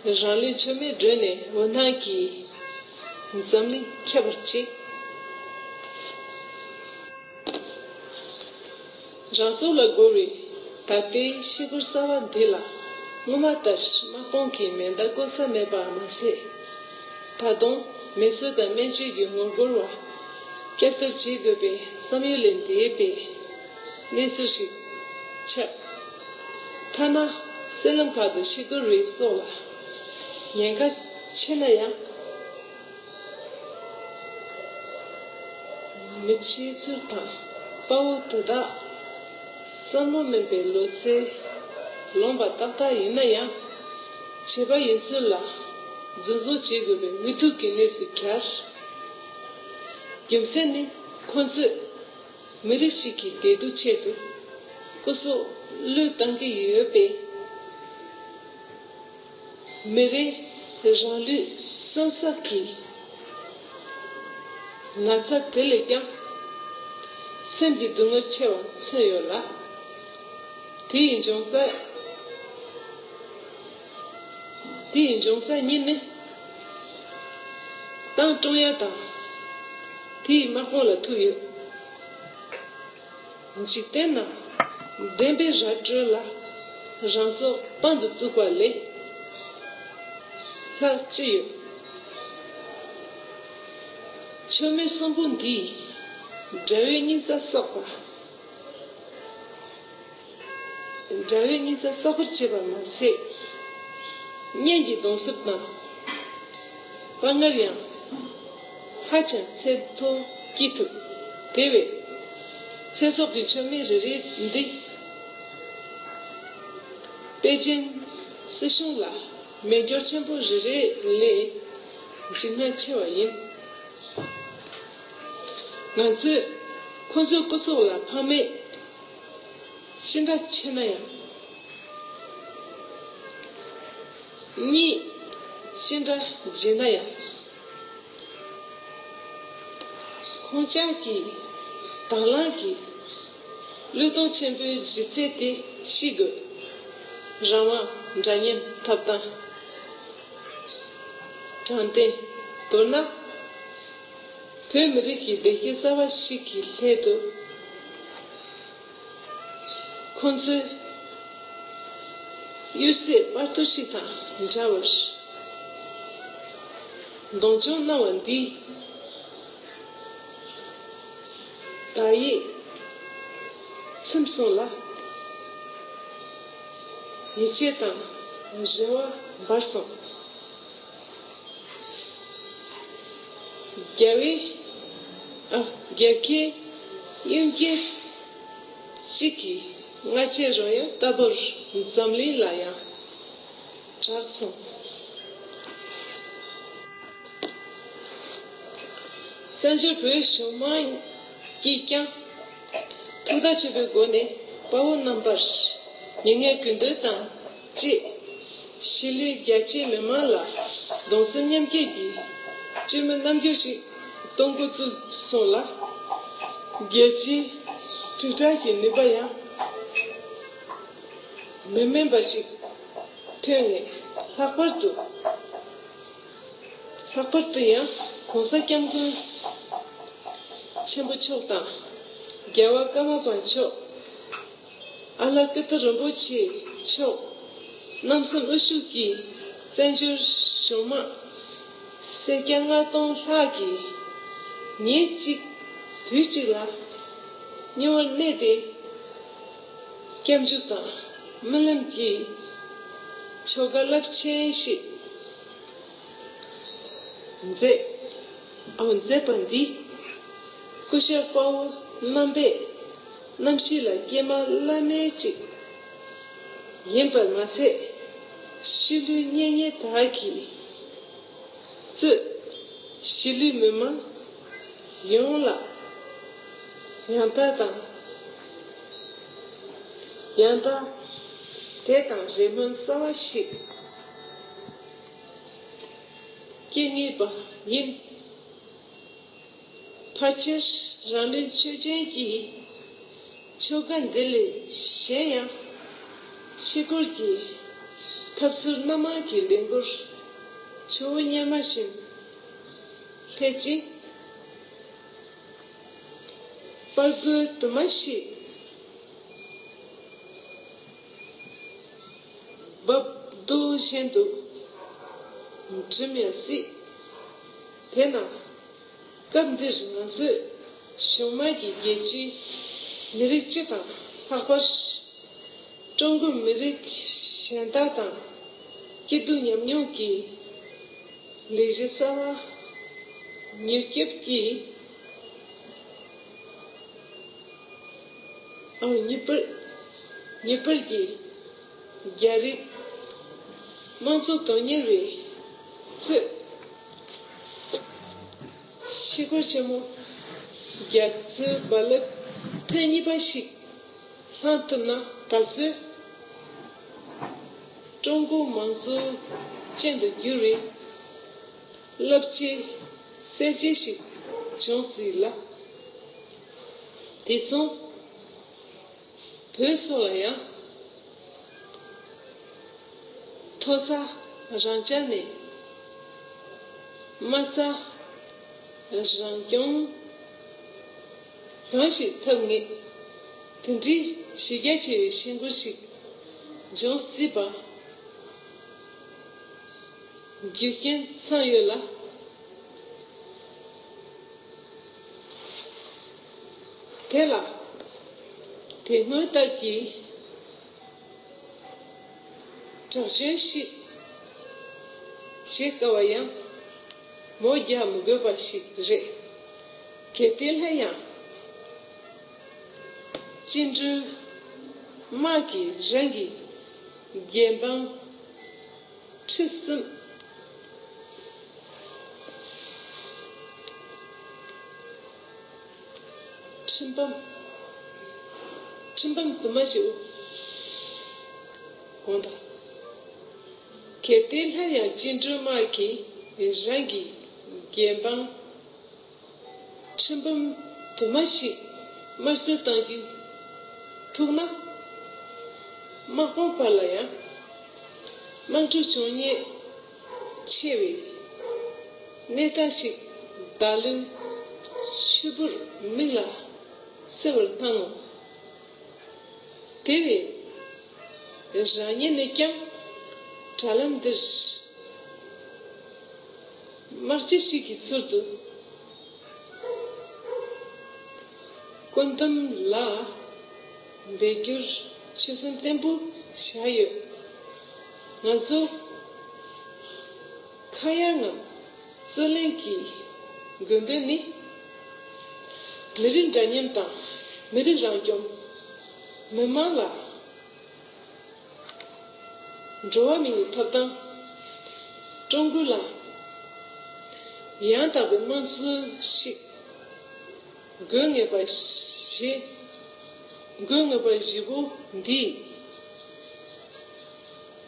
རང་ལུས་མཚོན་མེད་སྒྲོན་ནས་འོད་སྣང་གིས། འཛམ་གླིང་ཁྱབ་པར་གཅིག། རང་གཟུགས་ལ་རྒོལ་བའི་ད་ལྟའི་ཤི་བུར་གསར་བ་འདི་ལ། སྔོན་མ་ལྟར་དམག་དཔུང་གིས་མེ་མདའ་བཀོལ་ས་མེད་པར་མ་ཟད། ད་དུང་མེ་གསོད་དང་སྨན་བཅོས་ཀྱི་ངོ་རྒོལ་བ་བསྐྱར་དར་བྱེད་དགོས་པའི་བསམ་ཡུལ་ལས་འདས་པའི་གནས་ཚུལ་ཞིག་ཁྱབ། ཐ་ན་སེར་ལམ་ཁག་ཏུ་ཤི་དོར་རིགས་སོགས་ལ་ཉེན་ཁ་ཆེ་ན་ཡང། མི་ཕྱེད་ཚུར་དང་དཔའ་བོ་དེ་དག་བསམ་བློ་དམན་པའི་ལོ་ཚད་ལོངས་པ་ཏག་ཏག་ཡིན་ན་ཡང། བྱས་པ་ཡིན་ཚུལ་ལ་རྫུན་བཟོ་བྱེད་དགོས་པའི་དབུལ་སྟུག་གི་གནས་སུ་གྱར། རྒྱུ་མཚན་ནི་ཁོ་ཚོས། མི་རིགས་ཤིག་གི་བདེ་སྡུག་ཆེད་དུ། སྐུ་གཟུགས་བློས་བཏང་གི་ཡོད་པས། མི་རིགས་རང་ལུས་གསོན་གསབ་ཀྱི་ན་ཚ་དེ་ལས་ཀྱང་སེམས་ཀྱི་སྡུག་བསྔལ་ཆེ་བ་མཚོན་ཡོད་ལ། དེ་ཡི་འབྱུང་རྩ། དེའི་འབྱུང་རྩ་གཉིས་ནི། ཏང་ཀྲུང་དབྱང་དང། དེའི་དམག་དཔུང་ལ་ཐུག་ཡོད། འཇིག་རྟེན་ནང་བདེན་པའི་ར་སྤྲོད་ལ་རང་སྲོག་དཔང་དུ་བཙུགས་པ་ལས་ལྷག་ཅི་ཡོད། མཆོད་མེ་གསུམ་པོ་འདིས་དགྲ་བོའི་སྙིང་རྩ་གསོག་པ། འདྲ་བའི་སྙིང་རྩ་གསོ་བར་བྱེད་པར་མ་ཟད། གཉན་གྱི་གདོན་གསོབ་དང་དཔའ་ངར་ཡང་ཧ་ཅང་ཚད་མཐོ་སྐྱེད་ཐུབ། དེ་བས། ཚེ་སྲོག་གི་མཆོད་མེ་རེ་རེ་འདི་པེ་ཅིན་སྲིད་གཞུང་ལ་མེ་སྒྱོགས་ཆེན་པོ་རེ་རེ་ལས་འཇིགས་སྣང་ཆེ་བ་ཡིན། ང་ཚོས་ཁོ་ཚོའི་སྐུ་སྲོག་ལ་ཕངས་མེད། ཅི་འདྲ་ཆེ་ན་ཡང། གཉིད་ཅི་འདྲ་རྗེས་ན་ཡང། ཁོང་ཅག་གི་དྭང་བླངས་ཀྱི། བློས་གཏོང་ཆེན་པོའི་ལྗིད་ཚད་དེ་ཤི་དགོས། རང་དབང་འདྲ་མཉམ་ཐོབ་ཐང། དྲང་བདེན་མདོར་ན། བོད་མི་རིགས་ཀྱི་བདེ་སྐྱིད་གསར་བ་ཞིག་གི་སླད་དུ། ཁོང་ཚོས་གཡུལ་སའི་དཔར་རྡོ་ཞིག་དང་འདྲ་བར་གདོང་མཆོང་གནང་བ་འདིས། བདག་ཡིད་ཚིམས་སོང་ལ། ཡིད་ཆེས་དང་རེ་བ་འབར་སོང། རྒྱལ་བའི། རྒྱལ་ཁའི། གཡུལ་རྒྱལ། གཅིག་གིས་སྔ་ཕྱི་རོལ་ཡང་ལྟ་བུར་འཛམ་གླིང་ལ་ཡང་གྲགས་སོང། བཙན་བྱོལ་བོད་གཞུང་མང་གིས་ཀྱང་ཐུགས་བརྟག་ཆེན་པོའི་སྒོ་ནས་དཔའ་བོ་རྣམ་པར་ཉེ་བསྔལ་གུས་འདུད་དང། ཅེས། ཤི་ལའི་རྒྱལ་གཅེས་མི་དམངས་ལ་གདུང་སེམས་མཉམ་སྐྱེད་ཀྱི་སྤྱི་མོས་རྣམ་འགྱུར་ཞིག་གཏོང་འགོ་བཙུགས་སོང་ལ། རྒྱལ་སྤྱིའི་དྲིལ་བསྒྲགས་ཀྱི་ནུས་པ་ཡང་མི་དམན་པ་ཞིག་ཐོན་ནས་ལྷག་པར་དུ་ལྷག་པར་དུ་ཡང་གོང་ས་སྐྱབས་མགོན་ཆེན་པོ་མཆོག་དང་རྒྱལ་བ་ཀརྨ་པ་མཆོག་ཨ་ལ་ཀི་ཏི་རིན་པོ་ཆེ་མཆོག། རྣམ་གསུམ་དབུ་ཞུགས་ཀྱིས་བཙན་བྱོལ་གཞུང་དམག། སེར་སྐྱ་ལྔ་སྟོང་ལྷག་གིས་ཉིན་གཅིག་དུས་གཅིག་ལ། སྙིང་བོར་གནས་ཏེ་སྐྱབས་འཇུག་དང་སྨོན་ལམ་གྱིས། ཆོ་ག་རླབས་ཆེན་ཞིག་མཛད། མཛད་པ་འདི་སྐུ་ཞབས་དཔའ་བོ་རྣམ་པས། རྣམ་བཞི་ལ་ཀྱེ་མ་བླ་མའི་གཅིག། ཡིན་པར་མ་ཟད་གཤིས་ལུས་གཉེན་ཉེ་དག་གིས་གཙོས། གཞིས་ལུས་མི་དམངས་ཡོངས་ལ་ཡང་དག་དང། ཡང་དག། དད་དང་རེ་སྨོན་གསར་བ་ཞིག་སྐྱེ་ངེས་པ་ཡིན། ཕར་ཆེར་རང་རེའི་ཆོས་ཅན་གྱི། ཆོ་ག་འདི་ལས་གཞན་ཡང། ཕྱི་སྐོར་གྱི། ཐབས་ཚུལ་སྣ་མང་གི་ལས་འགུར། ཆུ་བོ་གཉེར་མ་བཞིན། ལྷད་ཅིང། པར་རྒོལ་དུ་མ་ཞིག། འབབ་རྡོ་བཞིན་དུ། འགྲིམ་ཡང་སྲིད། དེས་ན། སྐབས་འདིར་ང་ཚོས་གཞུང་དམངས་ཀྱི་རྒྱལ་སྤྱི། མི་རིགས་སྤྱི་དང་ལྷག་པར། ཀྲུང་གོའི་མི་རིགས་གཞན་དག་དང་སྐྱིད་སྡུག་མཉམ་མྱོང་གི་ལས་གཞི་གསར་བ་མྱུར་སྐྱོབ་ཀྱིམྱུར་སྐྱོབ་ཀྱི་རྒྱ་རིགས་དམངས་གཙོ་དོན་གཉེར་བའི་གཙོས། གཤེད་སྐོར་ཆེན་མོ་རྒྱ་མཚོའི་རྦ་རླབས་ཐེངས་གཉིས་པ་ཞིག་བསླངས་ཐུབ་ན་ད་གཟོད་ཀྲུང་གོ་དམངས་གཙོ་ཅན་དུ་འགྱུར་བའི་རླབས་ཆེའི་གསལ་བྱེད་ཞིག་འབྱུང་སྲིད་ལ། དེ་མཚུངས། བོད་སོགས་ལ་ཡང། མཐོ་ས་རང་བྱ་ནས། དམའ་ས་རང་སྐྱོང། གང་ཞིག་ཐབས་ངེས་དེ་འདྲིའི་གཞི་རྒྱ་ཆེ་བའི་བཤད་མགུར་ཞིག་འབྱུང་སྲིད་པ། རྒྱུ་རྐྱེན་ཚང་ཡོད་ལ། དེ་ལ་དེ་སྔོན་ལྟར་གྱི་དྲག་ཞན་ཞིག་བྱེད་དཀའ་བ་ཡང་མོ་རྒྱག་མི་དགོས་པ་ཞིག་རེད། གལ་ཏེ་སླེབས་ཡང་བཅིངས་འགྲོལ་དམག་གིས་རང་གི་རྒྱལ་འབངས་ཁྲི་གསུམ་ཁྲིམས་དཔང། ཁྲིམས་དཔང་དུ་མ་ཞིག་དགོངས་དག། གལ་ཏེ་སླར་ཡང་བཅིངས་འགྲོལ་དམག་གིས་རང་གི་རྒྱལ་འབངས་ཁྲིམས་དཔང་དུ་མ་ཞིག་དམར་གསོད་བཏང་རྒྱུ་ཐུག་ན། དམག་དཔུང་བར་ལ་ཡང་དམག་འཁྲུག་འབྱུང་ངེས། ཆེ་བའི་ནད་རྟགས་ཤིག་བདག་ལུས་ཕྱུར་བུར་མིག་ལ་གསལ་བར་སྣང་ངོ། དེ་བས་རང་ཉིད་ནས་ཀྱང་དྲ་ལམ་འདིར་དམག་སྤྱི་ཞིག་གི་ཚུལ་དུ་བཀོད་འདོམས་ལ། འབད་རྒྱུར་ཆོད་སེམས་བརྟན་པོ་བཞག་ཡོད། ང་ཚོ་ཁ་གཡར་ངམ་རྩོད་གླེང་གི་དགོས་འདུན་ནི། མི་རིགས་འདྲ་མཉམ་དང་མི་རིགས་རང་སྐྱོང། མི་དམངས་ལ་འགྲོ་བ་མི་ཡི་ཐོབ་ཐང། ཀྲུང་གོ་ལ་ཡང་དག་པའི་དམངས་གཙོ་ཞིག། དགོས་ངེས་པ་བཞི། དགོས་ངེས་པ་བཞི་པོ་འདིས།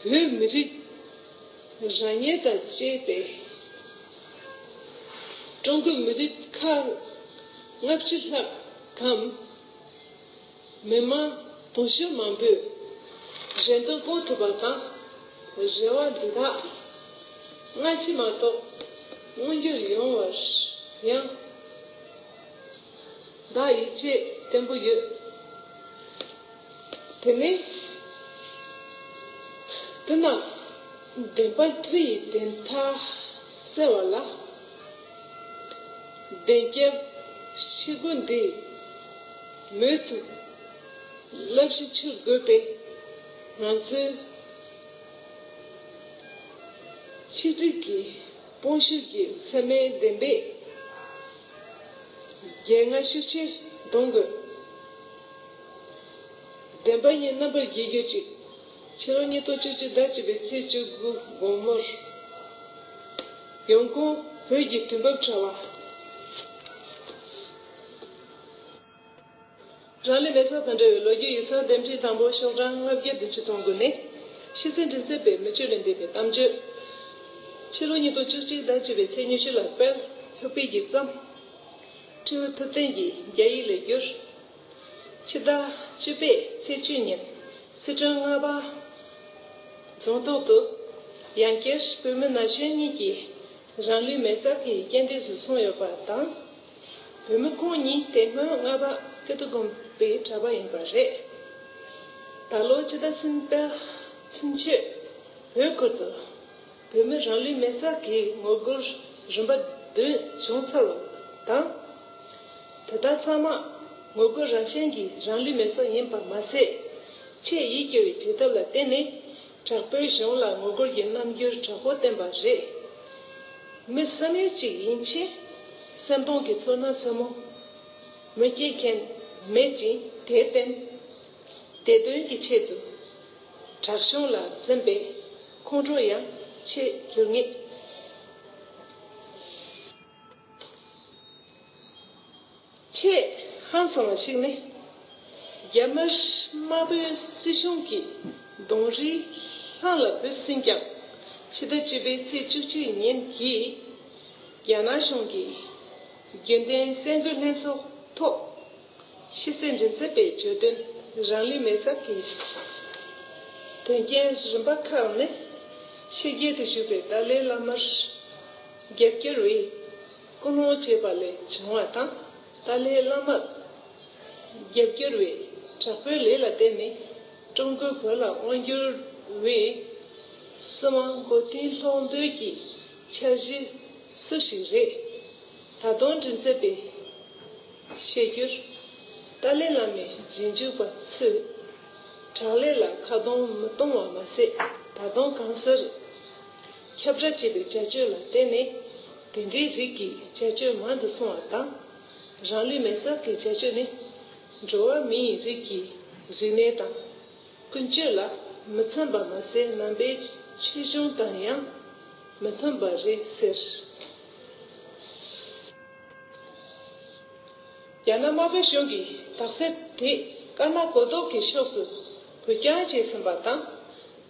བོད་མི་རིགས་རང་ཉིད་དང་བཅས་པའི་ཀྲུང་གོའི་མི་རིགས་ཁག་ལྔ་བཅུ་ལྷག་གམ། མི་དམངས་དུང་ཕྱུར་མང་པོས་རེ་འདུན་སྐོང་ཐུབ་པ་དང། རེ་བ་འདི་དག་སྔ་ཕྱི་མ་གཏོགས་མངོན་འགྱུར་ཡོང་བར་ཡང། བདག་ཡིད་ཆེས་བརྟན་པོ་ཡོད། དེ་ནས། དེ་རྣམས་བདེན་པ་མཐུ་ཡིས་བདེན་མཐའ་སེལ་བ་ལ། བདེན་སྐྱབས་ཕྱི་སྒོ་འདི་མོས་མཐུ། བསླབ་གཞི་ཕྱིར་དགོས་པས་ང་ཚོའི། ཆིག་སྒྲིལ་གྱི། སྤོང་བྱེད་ཀྱི་མཚན་མའི་བདེན་པས། རྒྱལ་རྔ་ཤུགས་ཆེ་གདོན་དགོས། བདེན་པ་གཉིས་རྣམ་པར་རྒྱལ་གྱུར་ཅིག། ཕྱི་ལོ་ཉིས་སྟོང་བཅུ་གཅིག་ཟླ་བཅུ་པའི་ཚེས་བཅུ་དགུ་དགོང་མོར། ཡོང་ཁུངས་བོད་ཀྱི་དུས་བབ་དྲ་བ། རང་ལས་མེད་ཚོགས་དང་འབྲེལ་བའི་ལོ་རྒྱུས་ཡིག་ཚགས་འདེམས་ཁྲིད་དང་པོ་ཤོག་གྲངས་ལྔ་བརྒྱ་བདུན་ཅུ་སྟོང་དགུ་ནི། ཤི་ཚེ་མགྲིན་ཚབ་པའི་མི་བཅུ་ལས་འདས་པའི་གཏམ་བརྗོད། ཕྱི་ལོ་ཉིས་སྟོང་བཅུ་གཅིག་ཟླ་བཅུ་པའི་ཚེས་ཉི་ཤུ་ལ་དཔལ་ལྷོ་སྤིལ་གྱིས་བརྩམས། ཁྲིའུ་ཐུབ་བསྟན་གྱིས་རྒྱ་ཡིག་ལས་བསྒྱུར། ཕྱི་ཟླ་བཅུ་པའི་ཚེས་བཅུ་ཉིན་སི་ཁྲོན་རྔ་པ་རྫོང་ཐོག་ཏུ། ཡང་བསྐྱར་བོད་མི་ན་གཞོན་གཉིས་ཀྱིས་རང་ལུས་མེ་སར་ཐིག་གིས་རྐྱེན་འདས་སུ་སོང་ཡོད་པ་དང། བོད་མི་ཁོང་ཉིད་དེ་སྔོན་རྔ་པ་ཀིརྟི་དགོན་པའི་གྲྭ་པ་ཡིན་པ་རེད། ད་ལོ་སྤྱི་ཟླ་སུམ་པའི་ཚུན་ཆོད་བོད་ཁུལ་དུ་བོད་མི་རང་ལུས་མེར་སྲེག་གི་ངོ་རྒོལ་རིམ་པ་བདུན་བྱུང་ཚར་བ་དང། དེ་དག་ཚང་མ་ངོ་རྒོལ་རང་བཞིན་གྱི་རང་ལུས་མེར་སྲེག་ཡིན་པ་མ་ཟད། ཆེས་ཡིད་སྐྱོ་བའི་བྱེད་ཐབས་ལ་བརྟེན་ནས། དྲག་པོའི་གཞུང་ལ་ངོ་རྒོལ་གྱི་རྣམ་འགྱུར་དྲག་པོ་བསྟན་པ་རེད། མི་བསམ་ཡུལ་གཅིག་ཡིན་ཕྱིན། སེམས་སྟོང་གི་ཚོར་སྣང་ཟབ་མོ། མི་སྐྱེ་མཁན་མེད་ཅིང་དེ་བརྟེན། བདེ་དོན་གྱི་ཆེད་དུ། དྲག་གཞུང་ལ་འཛེམ་པའི་ཁོང་ཁྲོ་ཡང་ཆེས་གྱུར་ངེས། ཆེས་ཧང་སང་བ་ཞིག་ནི། རྒྱ་དམར་པོའི་སྲིད་གཞུང་གིས་གདོང་རིས་ལྷང་ལ་བུད་ཟིན་ཀྱང། ཕྱི་ཟླ་བཅུ་པའི་ཚེས་བཅུ་གཅིག་ཉིན་གྱི་རྒྱ་ནག་གཞུང་གི་རྒྱུན་ལྡན་གསལ་འགོད་ལྷན་ཚོགས་ཐོག་ཕྱི་གསལ་མགྲིན་ཚབ་པས་བརྗོད་དོན་རང་ལུས་མེ་སྲབ་ཀྱི་དོན་རྐྱེན་རིམ་པ་ཁག་ནི་ཕྱི་རྒྱལ་དུ་བཞུགས་པའི་ཏཱ་ལའི་བླ་མར། རྒྱབ་སྐྱོར་བས་སྐུ་སློང་བྱས་པ་ལས་བྱུང་བ་དང་ཏཱ་ལའི་བླ་མར་རྒྱབ་སྐྱོར་བས་དྲག་པོའི་ལས་ལ་བརྟེན་ནས་ཀྲུང་གོའི་བོད་ལ་དབང་བསྒྱུར་བས་སྲིད་དབང་མགོ་རྟིང་སློག་འདོད་ཀྱི་འཆར་གཞི་སུ་ཞིག་རེད། ད་དུང་དྲིན་ཚད་པས་བཤད་རྒྱུར། ཏཱ་ལའི་བླ་མའི་རྗེས་འཇུག་པ་ཚོས། དྲག་ལས་ལ་ཁ་རྡུང་མི་གཏོང་བ་མ་ཟད་ད་དུང་གང་སར་ཁྱབ་བསྒྲགས་བྱས་པའི་བྱ་སྤྱོད་ལ་བརྟེན་ནས་དེ་འདྲའི་རིགས་ཀྱི་བྱ་སྤྱོད་མང་དུ་སོང་བ་དང། རང་ལུས་མེར་བསྲེགས་ཀྱི་བྱ་སྤྱོད་ནི་འགྲོ་བ་མིའི་རིགས་ཀྱི་རིག་གནས་དང་ཀུན་སྤྱོད་ལ་མི་འཚམ་པ་མ་ཟད་རྣམ་པའི་ཆོས་གཞུང་དང་ཡང་མི་མཐུན་པ་རེད་ཟེར། རྒྱ་ནག་དམར་པོའི་གཞུང་གིས་དག་སེལ་དེས་དཀར་ནག་གོ་ལྡོག་གི་ཕྱོགས་སུ་བུ་རྐྱང་བྱས་ཟིན་པ་དང།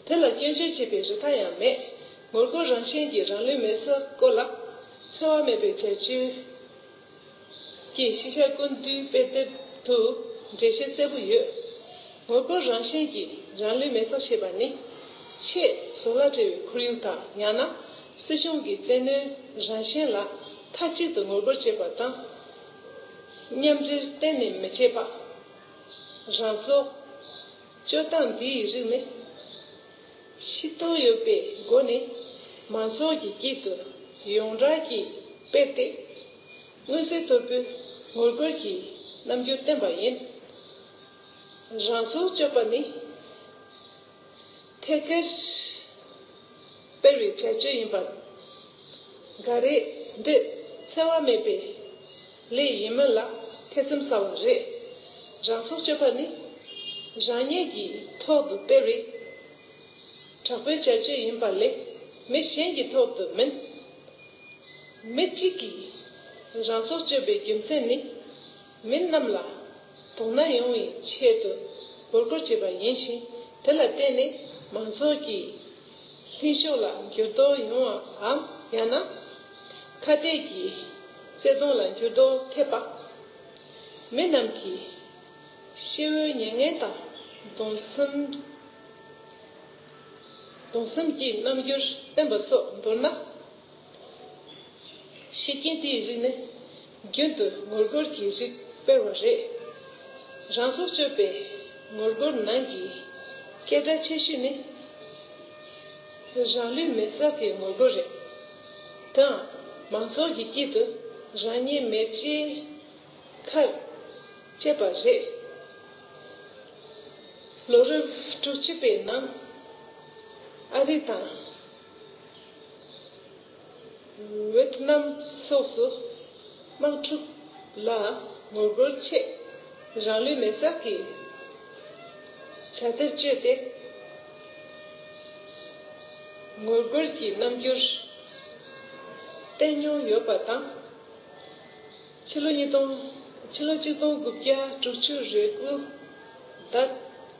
དེ་ལ་སྐྱོན་བརྗོད་བྱེད་པའི་རིགས་ཐ་ཡང་མེད། ངོ་རྒོལ་རང་བཞིན་གྱི་རང་ལུས་མེར་བསྲེགས་སྐོར་ལ། འཚེ་བ་མེད་པའི་བྱ་སྤྱོད་ཀྱིས་ཤེས་བྱ་ཀུན་བཏུས་དཔེ་དེབ་ཏུ་འགྲེལ་བཤད་གསལ་པོ་ཡོད། ངོ་རྒོལ་རང་བཞིན་གྱི་རང་ལུས་མེར་བསྲེགས་བྱེད་པ་ནི། ཆེས་བཟོ་ལ་བྲེལ་བའི་ཁོར་ཡུག་དང་ཡང་ན་སྲིད་གཞུང་གི་བཙན་གནོན་རང་བཞིན་ལ་མཐའ་གཅིག་ཏུ་ངོ་རྒོལ་བྱེད་པ་དང། མཉམ་འབྲེལ་གཏན་ནས་མི་བྱེད་པ། རང་སྲོག། སྤྱོད་སྟངས་འདི་ཡི་རིགས་ནི། ཤི་གཏོང་ཡོད་པའི་སྒོ་ནས་མང་ཚོགས་ཀྱི་དཀྱིལ་དུ་ཡོངས་གྲགས་ཀྱིས་སྤེལ་ཏེ། མངོན་གསལ་དོད་པོའི་ངོ་རྒོལ་གྱི་རྣམ་འགྱུར་བསྟན་པ་ཡིན། རང་སྲོག་གཅོད་པ་ནི། ཐད་ཀར། སྤེལ་བའི་བྱ་སྤྱོད་ཡིན་པ་འགའ་རེ་འདི་འཚེ་བ་མེད་པའི་ལས་ཡིན་མོད་ལ་ཐེ་ཚོམ་ཟ་བ་རེད། རང་སྲོག་གཅོད་པ་ནི་རང་ཉིད་ཀྱི་ཐོག་ཏུ་སྤེལ་བའི་དྲག་པོའི་བྱ་སྤྱོད་ཡིན་པ་ལས་མི་གཞན་གྱི་ཐོག་ཏུ་མིན། མི་གཅིག་གིས་རང་སྲོག་གཅོད་པའི་རྒྱུ་མཚན་ནི་མི་རྣམས་ལ་དོ་ན་ཡོང་བའི་ཆེད་དུ་འབོད་སྐུལ་བྱས་པ་ཡིན་ཞིང་དེ་ལ་བརྟེན་ནས་མང་ཚོགས་ཀྱི་ལྷིང་ཕྱོགས་ལ་འགྱུར་ལྡོག་ཡོང་བའམ་ཡང་ན་ཁ་གཏད་ཀྱི་བརྩེ་དུང་ལ་འགྱུར་ལྡོག་ཐེབས་པ། མི་རྣམས་ཀྱི་ཤེས་བོའི་མྱ་ངན་དང་གདུང་སེམས་ཀྱི་རྣམ་འགྱུར་བསྟན་པ་སོགས་མདོར་ན། ཤེས་རྐྱེན་དེའི་རིགས་ནི་རྒྱུན་དུ་ངོ་རྒོལ་གྱི་རིགས་དཔེར་བ་རེད། རང་སྲོག་གཅོད་པའི་ངོ་རྒོལ་ནང་གི་སྐད་སྒྲ་ཆེ་ཤོས་ནི་རང་ལུས་མེར་བསྲེགས་ཀྱི་ངོ་རྒོལ་རེད། དེའང་མང་ཚོགས་ཀྱི་དཀྱིལ་དུ་རང་ཉིད་མེར་བསྲེགས་ཁར་སྤྱད་པ་རེད། ལོ་རབས་དྲུག་ཅུ་པའི་ནང་ཨ་རི་དང། ཝེ་ཐི་ནམ་སོགས་སུ་དམག་འཁྲུག་ལ་ངོ་རྒོལ་ཆེད་རང་ལུས་མེ་སྲེག་གི་བྱ་ཐབས་སྤྱོད་དེ་ངོ་རྒོལ་གྱི་རྣམ་འགྱུར་བསྟན་མྱོང་ཡོད་པ་དང། ཕྱི་ལོ་གཅིག་སྟོང་དགུ་བརྒྱ་དྲུག་ཅུ་རེ་དགུ་ཟླ་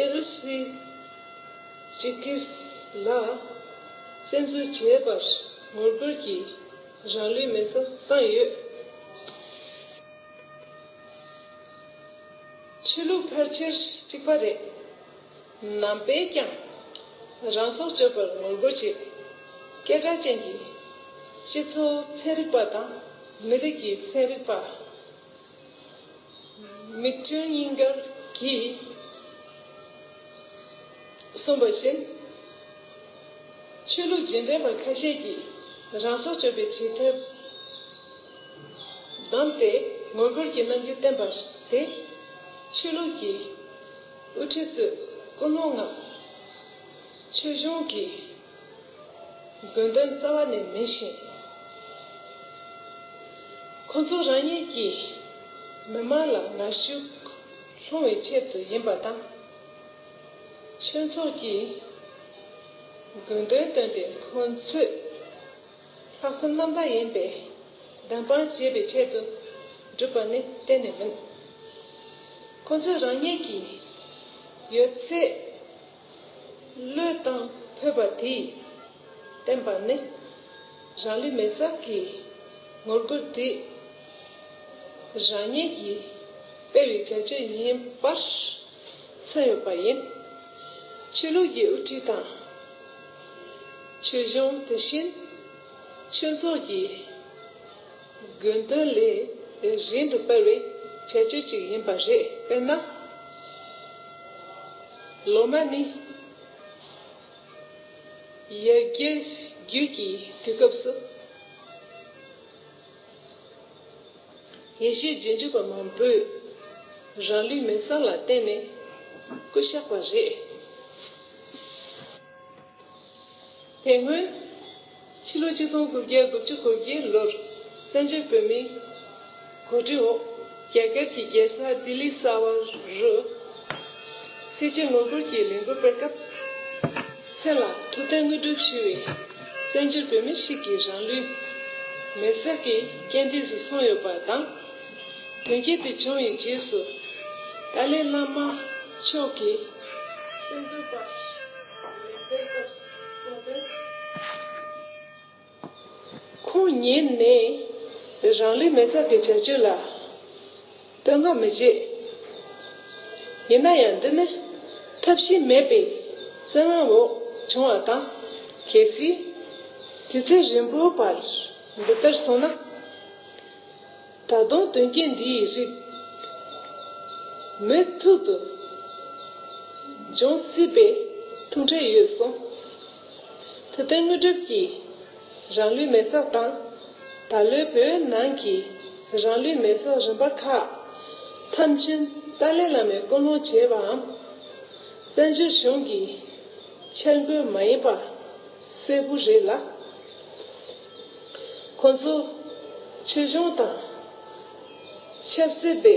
ཨེ་རུ་སི་ཇི་ཀིས་ལ་བཙན་འཛུལ་བྱས་པར་ངོ་རྒོལ་གྱིས་རང་ལུས་མེ་བསྲེགས་བཏང་ཡོད། ཆོས་ལུགས་ཕལ་ཆེར་གཅིག་པ་རེད། ནང་པས་ཀྱང་རང་སྲོག་གཅོད་པར་ངོ་རྒོལ་བྱེད། སྐད་གྲགས་ཅན་གྱི་སྤྱི་ཚོགས་ཚན་རིག་པ་དང་མི་རིགས་ཀྱི་ཚན་རིག་པ། མིག་སྤྲིན་སྙིང་གར་གྱིས། གསུངས་པ་བཞིན། ཆོས་ལུགས་རྗེས་འབྲེལ་བར་ཁ་ཤས་ཀྱིས་རང་སྲོག་གཅོད་པའི་བྱེད་ཐབས་བདམས་ཏེ་ངོ་རྒོལ་གྱི་རྣམ་འགྱུར་བསྟན་པ་དེ། ཆོས་ལུགས་ཀྱི་དབུ་ཁྲིད་ཚོས་ཀུན་སློང་ངམ། ཆོས་གཞུང་གི། དགོས་འདུན་རྩ་བ་ནས་མིན་ཞིང། ཁོ་ཚོ་རང་ཉིད་ཀྱིས་མི་དམངས་ལ་ངར་ཤུགས་སློང་བའི་ཆེད་དུ་ཡིན་པ་དང། ཆོས་ཚོགས་ཀྱིས་དགོས་འདུན་བཏོན་ཏེ་ཁོ་ཚོས་ལྷག་བསམ་རྣམ་དག་ཡིན་པའི་གདམས་པ་བྱེད་པའི་ཆེད་དུ་བསྒྲུབས་པ་ནི་གཏན་ནས་མིན། ཁོ་ཚོས་རང་ཉིད་ཀྱི་ཡོད་ཚད། བློས་བཏང་ཕོད་པ་དེས་བསྟན་པ་ནི། རང་ལུས་མེ་སྲེག་གི་ངོ་རྒོལ་དེ། རང་ཉིད་ཀྱིས་སྤེལ་བའི་བྱ་སྤྱོད་ཡིན་པར་མཚོན་ཡོད་པ་ཡིན། ཆོས་ལུགས་ཀྱི་དབུ་ཁྲིད་དང། ཆོས་གཞུང་དེ་བཞིན་ཆོས་ཚོགས་ཀྱི། དགོས་འདོད་ལས་གཞན་དུ་སྤེལ་བའི་བྱ་སྤྱོད་ཅིག་ཡིན་པ་རེད། དཔེར་ན། ལོ་མ་ནི་ཡར་རྒྱས་རྒྱུད་ཀྱི་དུས་སྐབས་སུ། ཡེ་ཤེས་རྗེས་འཇུག་པ་མང་པོས་རང་ལུས་མེ་བསང་ལ་བརྟེན་ནས་སྐུ་བཤགས་པ་རེད། དེ་སྔོན། ཕྱི་ལོ་ཆིག་སྟོང་དགུ་བརྒྱ་དགུ་བཅུ་གོ་བརྒྱད་ལོར་བཙན་བྱོལ་བོད་མིའི་གོ་སྒྲིག་འོག་རྒྱ་གར་གྱི་རྒྱལ་ས་ལྡི་ལི་གསར་བ་རུ་སེར་བྱེས་ངོ་རྒོལ་གྱི་ལས་འགུལ་སྤེལ་སྐབས། མཚན་ལ་ཐུབ་བསྟན་དངོས་གྲུབ་ཞུ་བའི་བཙན་བྱོལ་བོད་མི་ཞིག་གི་རང་ལུས་མེར་བསྲེགས་ཀྱི་རྐྱེན་འདས་སུ་སོང་ཡོད་པ་དང། དོན་རྐྱེན་དེ་བྱུང་བའི་རྗེས་སུ་ཏཱ་ལའི་བླ་མ་མཆོག་གིས་གསལ་འདོན་པར། ཁོང་ཉིད་ནས་རང་ལུས་མེ་བསྲེགས་ཀྱི་བྱ་སྤྱོད་ལ་བསྟོད་བསྔགས་མི་བྱེད། ཡིན་ན་ཡང་འདི་ནི་ཐབས་ཤེས་མེད་པའི་བཙན་དབང་འོག་བྱུང་བ་དང་གལ་སྲིད་དུས་ཚོད་རིང་པོའི་བར་འདི་ལྟར་སོང་ན། ད་དུང་དོན་རྐྱེན་འདི་ཡི་རིགས། མོས་ཐུག་ཏུ་འབྱུང་སྲིད་པའི་ཐུགས་འཕྲད་ཡོད་གསུངས། དུ་ཏན་དངོས་གྲུབ་ཀྱིས་རང་ལུས་མེ་སྲེག་དང། ད་ལོའི་བོད་ནང་གི་རང་ལུས་མེ་སྲེག་རིམ་པ་ཁག་མཐའ་ཕྱིན་ཏཱ་ལའི་བླ་མས་བསྐོ་སློང་བྱས་པའམ། བཙན་བྱོལ་གཞུང་གི་འཆར་འགོད་མ་ཡིན་པ་གསལ་པོ་རེད་ལ། ཁོ་ཚོ་ཆོས་གཞུང་དང། ཆབ་སྲིད་པའི།